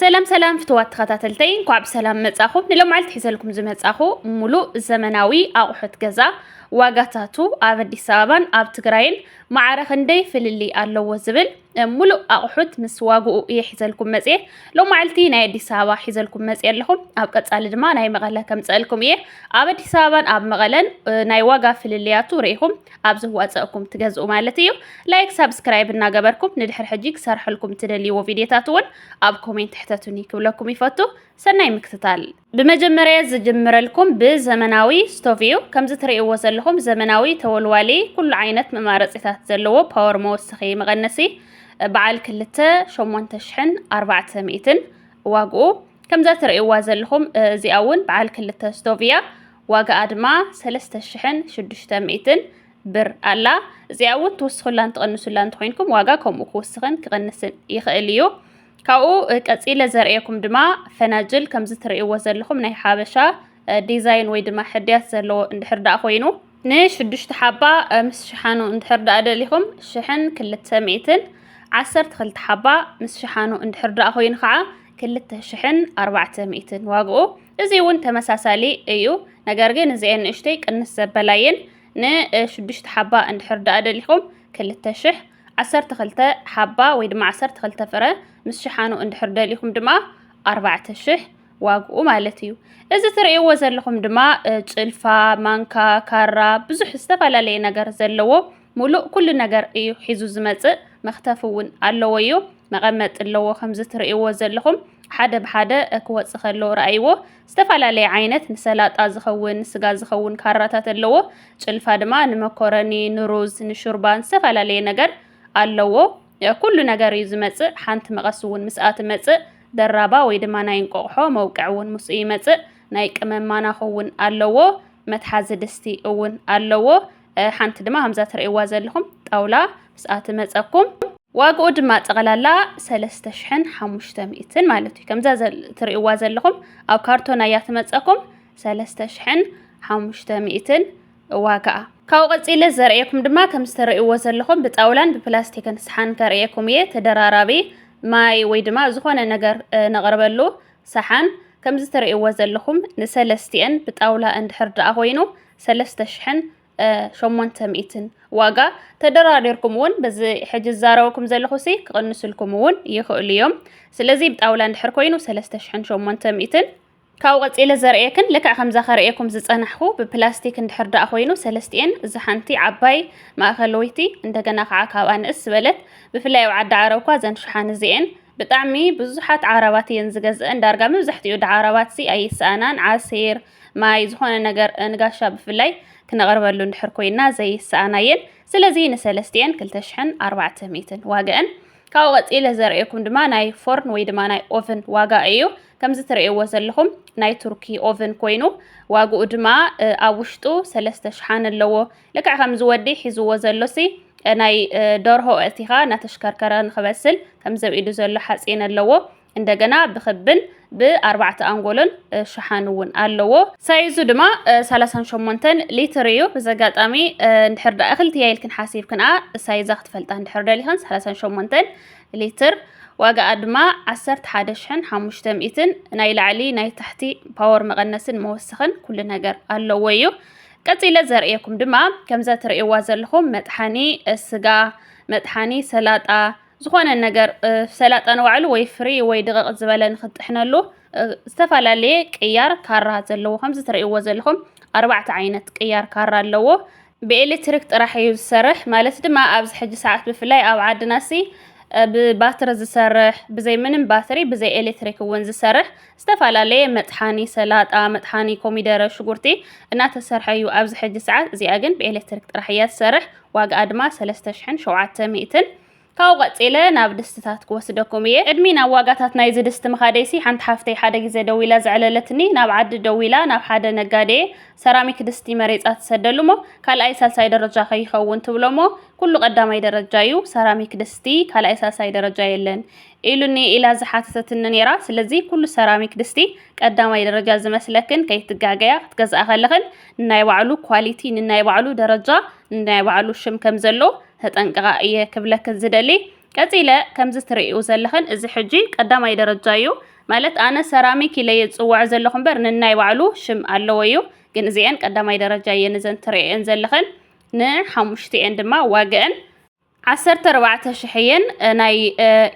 ሰላም ሰላም ፍትዋት ተኸታተልተይ እንኳዕ ብሰላም መጻኹም። ንሎማዓልቲ ሒዘልኩም ዝመጻኹ ሙሉእ ዘመናዊ ኣቑሑት ገዛ ዋጋታቱ ኣብ ኣዲስ ኣበባን ኣብ ትግራይን ማዕረ ክንደይ ፍልልይ ኣለዎ ዝብል ሙሉእ ኣቑሑት ምስ ዋግኡ እየ ሒዘልኩም መፅየ ሎማዓልቲ ናይ ኣዲስ ኣበባ ሒዘልኩም መፅየ ኣለኹም ኣብ ቀፃሊ ድማ ናይ መቐለ ከምፀእልኩም እየ ኣብ ኣዲስ ኣበባን ኣብ መቐለን ናይ ዋጋ ፍልልያቱ ርኢኹም ኣብ ዝዋፀእኩም ትገዝኡ ማለት እዩ ላይክ ሳብስክራይብ እናገበርኩም ንድሕር ሕጂ ክሰርሐልኩም ትደልይዎ ቪድዮታት እውን ኣብ ኮሜንት ሕተቱኒ ክብለኩም ይፈቱ ሰናይ ምክትታል ብመጀመርያ ዝጅምረልኩም ብዘመናዊ ስቶቭ እዩ ከምዚ ትርእይዎ ዘለኹም ዘመናዊ ተወልዋሊ ኩሉ ዓይነት መማረፂታት ዘለዎ ፓወር መወስኺ መቐነሲ በዓል ክልተ ሸሞንተ ሽሕን ኣርባዕተ ሚእትን ዋግኡ ከምዛ ትርእይዋ ዘለኹም እዚኣ እውን በዓል ክልተ ስቶቭ እያ ዋጋኣ ድማ ሰለስተ ሽሕን ሽዱሽተ ሚእትን ብር ኣላ። እዚኣ እውን ትውስኹላን ትቕንሱላ እንተኾይንኩም ዋጋ ከምኡ ክውስኽን ክቕንስን ይኽእል እዩ። ካብኡ ቀጺለ ዘርእየኩም ድማ ፈናጅል ከምዚ ትርእይዎ ዘለኹም ናይ ሓበሻ ዲዛይን ወይ ድማ ሕድያት ዘለዎ እንድሕር ደኣ ኮይኑ ንሽዱሽተ ሓባ ምስ ሽሓኑ እንድሕር ደኣ ደሊኹም ሽሕን ክልተ ሚእትን ዓሰርተ ክልተ ሓባ ምስ ሽሓኑ እንድሕር ደኣ ኮይኑ ከዓ ክልተ ሽሕን ኣርባዕተ ሚእትን ዋግኡ እዚ እውን ተመሳሳሊ እዩ ነገር ግን እዚኤን ንእሽተይ ቅንስ ዘበላ እየን ንሽዱሽተ ሓባ እንድሕር ደኣ ደሊኹም ክልተ ሽሕ ዓሰርተ ክልተ ሓባ ወይ ድማ ዓሰርተ ክልተ ፍረ ምስ ሽሓኑ እንድሕር ደሊኹም ድማ ኣርባዕተ ሽሕ ዋግኡ ማለት እዩ እዚ ትርእይዎ ዘለኹም ድማ ጭልፋ ማንካ ካራ ብዙሕ ዝተፈላለየ ነገር ዘለዎ ሙሉእ ኩሉ ነገር እዩ ሒዙ ዝመጽእ መኽተፊ ውን ኣለዎ'ዩ መቐመጢ ኣለዎ ከምዚ ትርእይዎ ዘለኹም ሓደ ብሓደ ክወጽእ ከሎ ረኣይዎ ዝተፈላለየ ዓይነት ንሰላጣ ዝኸውን ንስጋ ዝኸውን ካራታት ኣለዎ ጭልፋ ድማ ንመኮረኒ ንሩዝ ንሹርባ ዝተፈላለየ ነገር ኣለዎ ኩሉ ነገር እዩ ዝመጽእ ሓንቲ መቐስ እውን ምስኣ ትመጽእ ደራባ ወይ ድማ ናይ እንቆቕሖ መውቅዕ እውን ምስኡ ይመጽእ ናይ ቅመም ማናኹ እውን ኣለዎ መትሓዚ ድስቲ እውን ኣለዎ ሓንቲ ድማ ከምዛ ትርእይዋ ዘለኹም ጣውላ ምስኣ ትመፀኩም ዋግኡ ድማ ጠቕላላ 3500 ማለት እዩ ከምዛ ትርእይዋ ዘለኹም ኣብ ካርቶና እያ ትመፀኩም 3500 ዋጋኣ ካብኡ ቀፂለ ዘርእየኩም ድማ ከም ዝተርእይዎ ዘለኹም ብጣውላን ብፕላስቲክን ሰሓን ከርእየኩም እየ ተደራራቢ ማይ ወይ ድማ ዝኾነ ነገር ነቕርበሉ ሰሓን ከምዚ ትርእይዎ ዘለኹም ንሰለስቲኤን ብጣውላ እንድሕር ደኣ ኮይኑ ሰለስተ ሽሕን ሸሞንተ ሚእትን ዋጋ ተደራዲርኩም እውን በዚ ሕጂ ዝዛረበኩም ዘለኹ ሲ ክቕንስልኩም እውን ይኽእሉ እዮም ስለዚ ብጣውላ እንድሕር ኮይኑ ሰለስተ ሽሕን ሸሞንተ ሚእትን ካብኡ ቀፂለ ዘርእየክን ልክዕ ከምዛ ከርእየኩም ዝፀናሕኩ ብፕላስቲክ እንድሕር ደኣ ኮይኑ ሰለስቲኤን እዚ ሓንቲ ዓባይ ማእኸለወይቲ እንደገና ከዓ ካብኣ ንእስ ዝበለት ብፍላይ ኣብ ዓዲ ዓረብ እኳ እዘን ሽሓን እዚኤን ብጣዕሚ ብዙሓት ዓራባት እየን ዝገዝእን ዳርጋ መብዛሕቲኡ ዓራባት ሲ ኣይሰኣናን ዓሲር ማይ ዝኾነ ነገር ንጋሻ ብፍላይ ክነቕርበሉ እንድሕር ኮይና ዘይሰኣና እየን ስለዚ ንሰለስቲኤን ክልተ ሽሕን ኣርባዕተ ሚእትን ዋግአን ካብኡ ቀፂለ ዘርእየኩም ድማ ናይ ፎርን ወይ ድማ ናይ ኦቨን ዋጋ እዩ ከምዚ ትርእይዎ ዘለኹም ናይ ቱርኪ ኦቨን ኮይኑ ዋግኡ ድማ ኣብ ውሽጡ ሰለስተ ሽሓን ኣለዎ ልክዕ ከምዚ ወዲ ሒዝዎ ዘሎሲ ናይ ደርሆ እቲኻ እናተሽከርከረ ንክበስል ከምዚ ኢዱ ዘሎ ሓፂን ኣለዎ እንደገና ብክብን ብኣርባዕተ ኣንጎሎን ሸሓን እውን ኣለዎ። ሳይዙ ድማ ሰላሳን ሸሞንተን ሊትር እዩ። ብዘጋጣሚ እንድሕር ደኣ እኽልቲ እያ ኢልክን ሓሲብክንኣ ሳይዛ ክትፈልጣ እንድሕር ደሊኽን ሰላሳን ሸሞንተን ሊትር ዋጋኣ ድማ ዓሰርተ ሓደ ሽሕን ሓሙሽተ ሚእትን ናይ ላዕሊ ናይ ታሕቲ ፓወር መቐነስን መወሰኽን ኩሉ ነገር ኣለዎ እዩ። ቀጺለ ዘርእየኩም ድማ ከምዛ ትርእይዋ ዘለኹም መጥሓኒ ስጋ፣ መጥሓኒ ሰላጣ፣ ዝኾነ ነገር ሰላጣ ንባዕሉ ወይ ፍሪ ወይ ድቕቕ ዝበለ ንክትጥሕነሉ ዝተፈላለየ ቅያር ካራ ዘለዎ ከምዚ ትርእይዎ ዘለኹም ኣርባዕተ ዓይነት ቅያር ካራ ኣለዎ። ብኤሌክትሪክ ጥራሕ እዩ ዝሰርሕ ማለት ድማ ኣብዚ ሕጂ ሰዓት ብፍላይ ኣብ ዓድና ሲ ብባትሪ ዝሰርሕ ብዘይ ምንም ባትሪ ብዘይ ኤሌክትሪክ እውን ዝሰርሕ ዝተፈላለየ መጥሓኒ ሰላጣ፣ መጥሓኒ ኮሚደረ፣ ሽጉርቲ እናተሰርሐ ዩ ኣብዚ ሕጂ ሰዓት። እዚኣ ግን ብኤሌክትሪክ ጥራሕ እያ ትሰርሕ ዋግኣ ድማ ሰለስተ ሽሕን ሸውዓተ ሚእትን። ካብኡ ቀጺለ ናብ ድስትታት ክወስደኩም እየ። ቅድሚ ናብ ዋጋታት ናይዚ ድስቲ ምኻደይሲ ሓንቲ ሓፍተይ ሓደ ግዜ ደዊላ ዘዕለለትኒ ናብ ዓዲ ደዊላ ናብ ሓደ ነጋዴ ሰራሚክ ድስቲ መሬጻ ትሰደሉ እሞ ካልኣይ ሳልሳይ ደረጃ ከይኸውን ትብሎ እሞ ኩሉ ቀዳማይ ደረጃ ዩ ሰራሚክ ድስቲ ካልኣይ ሳልሳይ ደረጃ የለን ኢሉኒ ኢላ ዝሓተተትኒ ነይራ። ስለዚ ኩሉ ሰራሚክ ድስቲ ቀዳማይ ደረጃ ዝመስለክን ከይትጋገያ ክትገዝኣ ከለኽን ንናይ ባዕሉ ኳሊቲ ንናይ ባዕሉ ደረጃ ንናይ ባዕሉ ሽም ከም ዘሎ ተጠንቅቓ እየ ክብለክን ዝደሊ። ቀጺለ ከምዚ ትርእዩ ዘለኽን እዚ ሕጂ ቀዳማይ ደረጃ እዩ ማለት ኣነ ሰራሚክ ኢለ እየ ዝጽውዖ ዘለኹ እምበር ንናይ ባዕሉ ሽም ኣለዎ እዩ። ግን እዚኤን ቀዳማይ ደረጃ እየን እዘን ትርእየን ዘለኽን ንሓሙሽቲኤን ድማ ዋግአን ዓሰርተ ኣርባዕተ ሽሕ'የን። ናይ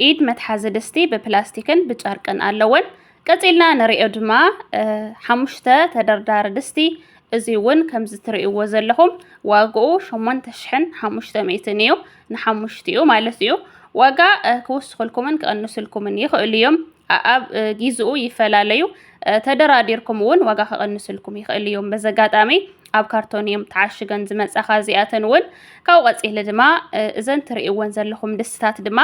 ኢድ መትሓዚ ድስቲ ብፕላስቲክን ብጨርቅን ኣለወን። ቀጺልና ንሪኦ ድማ ሓሙሽተ ተደርዳሪ ድስቲ እዚ እውን ከምዚ ትርእይዎ ዘለኹም ዋግኡ ሸሞንተ ሽሕን ሓሙሽተ ሚእትን እዩ ንሓሙሽቲኡ ማለት እዩ ዋጋ ክውስኽልኩምን ክቕንስልኩምን ይኽእሉ እዮም ኣኣብ ጊዝኡ ይፈላለዩ ተደራዲርኩም እውን ዋጋ ከቐንስልኩም ይኽእል እዮም። በዚ ኣጋጣሚ ኣብ ካርቶን እዮም ተዓሽገን ዝመጻ ካብዚኣተን እውን ካብኡ ቀጺለ ድማ እዘን ትርእይወን ዘለኹም ድስትታት ድማ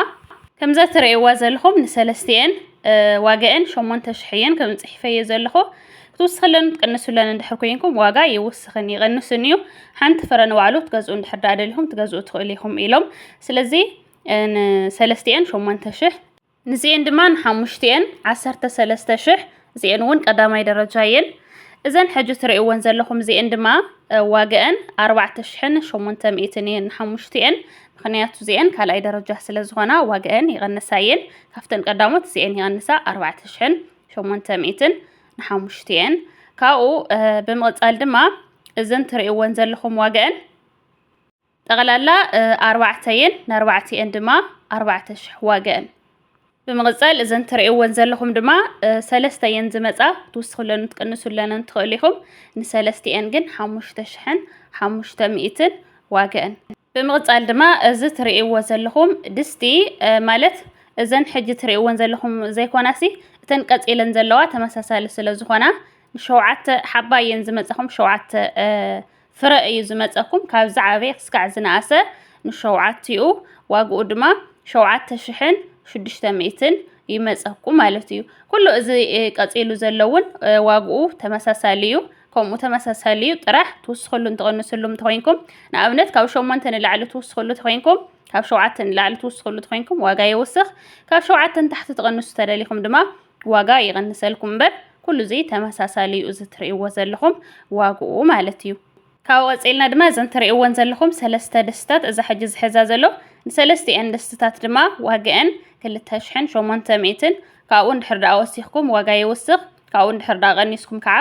ከምዘ ትርእይዋ ዘለኹም ንሰለስቲኤን ዋጋኤን ሸሞንተ ሽሕ እየን ከም ጽሒፈዮ ዘለኹ ክትውስኽለን ትቅንሱለን እንድሕር ኮይንኩም ዋጋ ይውስኽን ይቐንስን እዩ ሓንቲ ፍረ ንባዕሉ ትገዝኡ እንድሕር ዳኣ ደሊኹም ትገዝኡ ትኽእሉ ኢኹም ኢሎም ስለዚ ሰለስቲኤን ሸሞንተ ሽሕ ንዚኤን ድማ ንሓሙሽቲኤን ዓሰርተ ሰለስተ ሽሕ እዚኤን እውን ቀዳማይ ደረጃ እየን እዘን ሕጂ ትርእይወን ዘለኹም እዚኤን ድማ ዋግአን ኣርባዕተ ሽሕን ሸሞንተ ሚእትን እየን ንሓሙሽቲኤን ምክንያቱ እዚኤን ካልኣይ ደረጃ ስለ ዝኾና ዋግአን ይቐንሳ እየን ካብተን ቀዳሞት እዚኤን ይቐንሳ ኣርባዕተ ሽሕን ሸሞንተ ሚእትን ንሓሙሽቲኤን ካብኡ ብምቕፃል ድማ እዘን ትርእይወን ዘለኹም ዋግአን ጠቕላላ ኣርባዕተ እየን፣ ንኣርባዕቲኤን ድማ ኣርባዕተ ሽሕ ዋገእን። ብምቕጸል እዘን ትርእይወን ዘለኹም ድማ ሰለስተ እየን ዝመጻ ክትውስኽለንን ትቅንሱለንን ትኽእሉ ኢኹም። ንሰለስቲኤን ግን ሓሙሽተ ሽሕን ሓሙሽተ ሚእትን ዋገእን። ብምቕጻል ድማ እዚ ትርእይዎ ዘለኹም ድስቲ ማለት እዘን ሕጂ ትርእይወን ዘለኹም ዘይኮናሲ እተን ቀጺለን ዘለዋ ተመሳሳሊ ስለ ዝኾና ንሸውዓተ ሓባ እየን ዝመጻኹም ሸውዓተ ፍረ እዩ ዝመጸኩም ካብ ዝዓበየ ክስካዕ ዝነኣሰ ንሸውዓቲኡ ዋግኡ ድማ ሸውዓተ ሽሕን ሽዱሽተ ሚእትን ይመጸኩም ማለት እዩ ኩሉ እዚ ቀጺሉ ዘሎ እውን ዋግኡ ተመሳሳሊ እዩ ከምኡ ተመሳሳሊ እዩ ጥራሕ ትውስክሉ እንትቐንስሉ እንተኮይንኩም ንኣብነት ካብ ሸሞንተ ንላዕሊ ትውስክሉ ተኮይንኩም ካብ ሸውዓተ ንላዕሊ ትውስክሉ ተኮይንኩም ዋጋ ይውስኽ ካብ ሸውዓተ ንታሕቲ ትቐንሱ ተደሊኹም ድማ ዋጋ ይቕንሰልኩም እምበር ኩሉ እዚ ተመሳሳሊ እዩ እዚ ትርእይዎ ዘለኹም ዋግኡ ማለት እዩ። ካብኡ ቀጺልና ድማ እዘን ትርእይወን ዘለኹም ሰለስተ ድስትታት እዛ ሕጂ ዝሕዛ ዘሎ ንሰለስቲኤን ድስትታት ድማ ዋግኤን ክልተ ሽሕን ሸሞንተ ሚእትን ካብኡ እንድሕር ደኣ ወሲኽኩም ዋጋ ይውስኽ ካብኡ እንድሕር ደኣ ቀኒስኩም ከዓ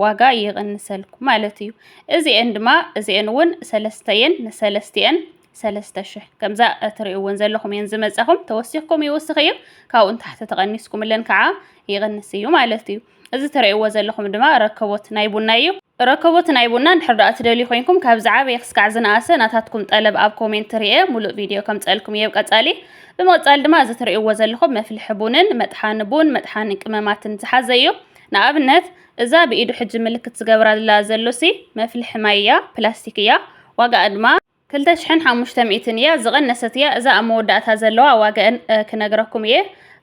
ዋጋ ይቕንሰልኩም ማለት እዩ። እዚኤን ድማ እዚኤን እውን ሰለስተ እየን ንሰለስቲኤን ሰለስተ ሽሕ ከምዛ እትርእይዎን ዘለኹም እየን ዝመጻኹም ተወሲኽኩም ይውስኽ እዩ ካብኡ ንታሕቲ ተቐኒስኩምለን ከዓ ይቕንስ እዩ ማለት እዩ እዚ እትርእይዎ ዘለኹም ድማ ረከቦት ናይ ቡና እዩ ረከቦት ናይ ቡና እንድሕር ደኣ ትደልዩ ኮይንኩም ካብ ዝዓበየ ክስካዕ ዝነኣሰ ናታትኩም ጠለብ ኣብ ኮሜንት ርኤ ሙሉእ ቪድዮ ከምፀልኩም እየ ቀፃሊ ብምቕፃል ድማ እዚ እትርእይዎ ዘለኹም መፍልሒ ቡንን መጥሓኒ ቡን መጥሓኒ ቅመማትን ዝሓዘ እዩ ንኣብነት እዛ ብኢዱ ሕጂ ምልክት ዝገብራላ ዘሎሲ መፍልሒ ማይ እያ ፕላስቲክ እያ ዋጋኣ ድማ ክልተ ሽሕን ሓሙሽተ ሚእትን እያ ዝቐነሰት እያ እዛ ኣብ መወዳእታ ዘለዋ ዋጋኤን ክነግረኩም እየ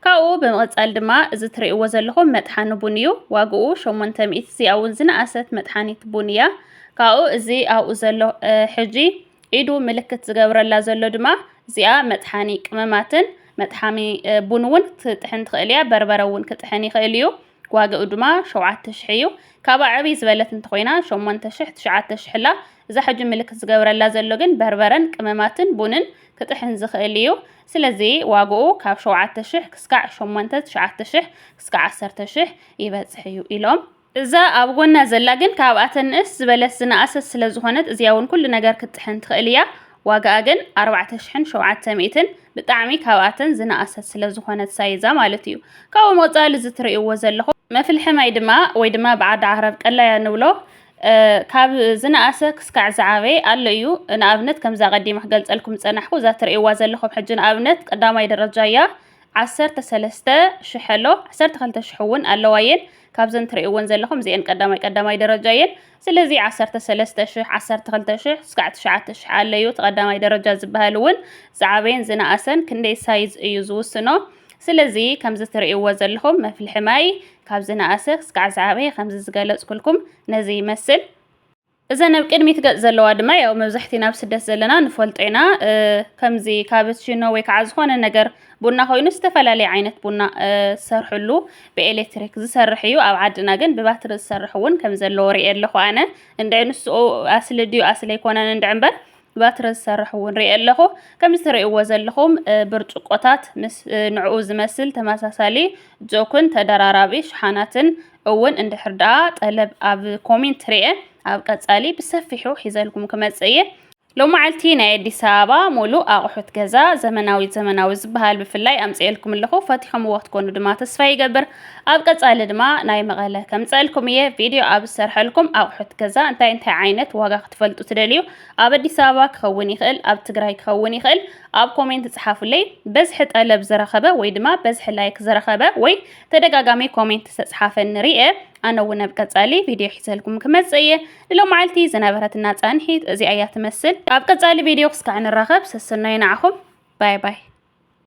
ካብኡ ብምቕጻል ድማ እዚ ትርእይዎ ዘለኹም መጥሓኒ ቡን እዩ ዋግኡ ሸሞንተ ሚእቲ እዚኣ እውን ዝነኣሰት መጥሓኒት ቡን እያ ካብኡ እዚ ኣብኡ ዘሎ ሕጂ ኢዱ ምልክት ዝገብረላ ዘሎ ድማ እዚኣ መጥሓኒ ቅመማትን መጥሓሚ ቡን እውን ትጥሕን ትኽእል እያ በርበረ እውን ክጥሕን ይኽእል እዩ ዋጋኡ ድማ ሸውዓተ ሽሕ እዩ። ካብኣ ዕብይ ዝበለት እንተኾይና ሸሞንተ ሽሕ ትሽዓተ ሽሕ ኣላ። እዛ ሕጂ ምልክት ዝገብረላ ዘሎ ግን በርበረን ቅመማትን ቡንን ክጥሕን ዝኽእል እዩ። ስለዚ ዋጋኡ ካብ ሸውዓተ ሽሕ ክስካዕ ሸሞንተ ትሽዓተ ሽሕ ክስካዕ ዓሰርተ ሽሕ ይበጽሕ እዩ ኢሎም። እዛ ኣብ ጎና ዘላ ግን ካብኣተን ንእስ ዝበለት ዝነኣሰት ስለዝኾነት እዚኣ እውን ኩሉ ነገር ክትጥሕን ትኽእል እያ። ዋጋኣ ግን ኣርባዕተ ሽሕን ሸውዓተ ሚእትን ብጣዕሚ ካብኣተን ዝነኣሰት ስለ ዝኾነት ሳይዛ ማለት እዩ። ካብኦም ወጻሊ እዚ ትርእይዎ ዘለኹም መፍልሒ ማይ ድማ ወይ ድማ ብዓዲ ዓረብ ቀላያ ንብሎ ካብ ዝነኣሰ ክስካዕ ዝዓበየ ኣሎ እዩ። ንኣብነት ከምዛ ቀዲመ ክገልጸልኩም ዝጸናሕኩ እዛ ትርእይዋ ዘለኹም ሕጂ ንኣብነት ቀዳማይ ደረጃ እያ። ዓሰርተ ሰለስተ ሽሕ ኣሎ ዓሰርተ ክልተ ሽሕ እውን ኣለዋ እየን። ካብዘን ትርእይወን ዘለኹም እዚኤን ቀዳማይ ቀዳማይ ደረጃ እየን። ስለዚ ዓሰርተ ሰለስተ ሽሕ፣ ዓሰርተ ክልተ ሽሕ እስካዕ ትሽዓተ ሽሕ ኣለዩ። እቲ ቀዳማይ ደረጃ ዝበሀል እውን ዝዓበየን ዝነኣሰን ክንደይ ሳይዝ እዩ ዝውስኖ። ስለዚ ከምዚ ትርእይዎ ዘለኹም መፍልሒ ማይ ካብ ዝነኣሰ ክስካዕ ዝዓበየ ከምዚ ዝገለፅኩልኩም ነዚ ይመስል። እዘን ኣብ ቅድሚት ገፅ ዘለዋ ድማ ያው መብዛሕቲና ኣብ ስደት ዘለና ንፈልጦ ኢና። ከምዚ ካበችኖ ወይ ከዓ ዝኾነ ነገር ቡና ኮይኑ ዝተፈላለየ ዓይነት ቡና ዝሰርሕሉ ብኤሌትሪክ ዝሰርሕ እዩ ኣብ ዓድና ግን ብባትሪ ዝሰርሕ እውን ከም ዘለዎ ሪኤ ኣለኹ ኣነ እንድዒ ንስኡ ኣስሊ ድዩ ኣስሊ ኣይኮነን እንድዒ እምበር ብባትሪ ዝሰርሕ እውን ሪኤ ኣለኹ ከምዚ ትሪእዎ ዘለኹም ብርጭቆታት ምስ ንዕኡ ዝመስል ተመሳሳሊ ጆክን ተደራራቢ ሽሓናትን እውን እንድሕር ደኣ ጠለብ ኣብ ኮሜንት ሪኤ ኣብ ቀጻሊ ብሰፊሑ ሒዘልኩም ክመጽእ እየ ሎማዓልቲ ናይ ኣዲስ ኣበባ ሙሉእ ኣቁሑት ገዛ ዘመናዊት ዘመናዊ ዝበሃል ብፍላይ ኣምፅኤልኩም ኣለኹ ፈቲሖምዎ ክትኮኑ ድማ ተስፋ ይገብር ኣብ ቀፃሊ ድማ ናይ መቐለ ከምፀእልኩም እየ ቪድዮ ኣብ ዝሰርሐልኩም ኣቁሑት ገዛ እንታይ እንታይ ዓይነት ዋጋ ክትፈልጡ ትደልዩ ኣብ ኣዲስ ኣበባ ክኸውን ይኽእል ኣብ ትግራይ ክኸውን ይኽእል ኣብ ኮሜንት ፅሓፉለይ በዝሒ ጠለብ ዝረኸበ ወይ ድማ በዝሒ ላይክ ዝረኸበ ወይ ተደጋጋሚ ኮሜንት ዝተፅሓፈ ንሪኤ ኣነ እውን ኣብ ቀጻሊ ቪድዮ ሒዘልኩም ክመጽእ እየ። ንሎማዓልቲ ዝነበረትና ጻንሒት እዚኣ እያ ትመስል። ኣብ ቀጻሊ ቪድዮ ክስካዕ ንራኸብ። ሰሰናዩ ንዓኹም። ባይ ባይ።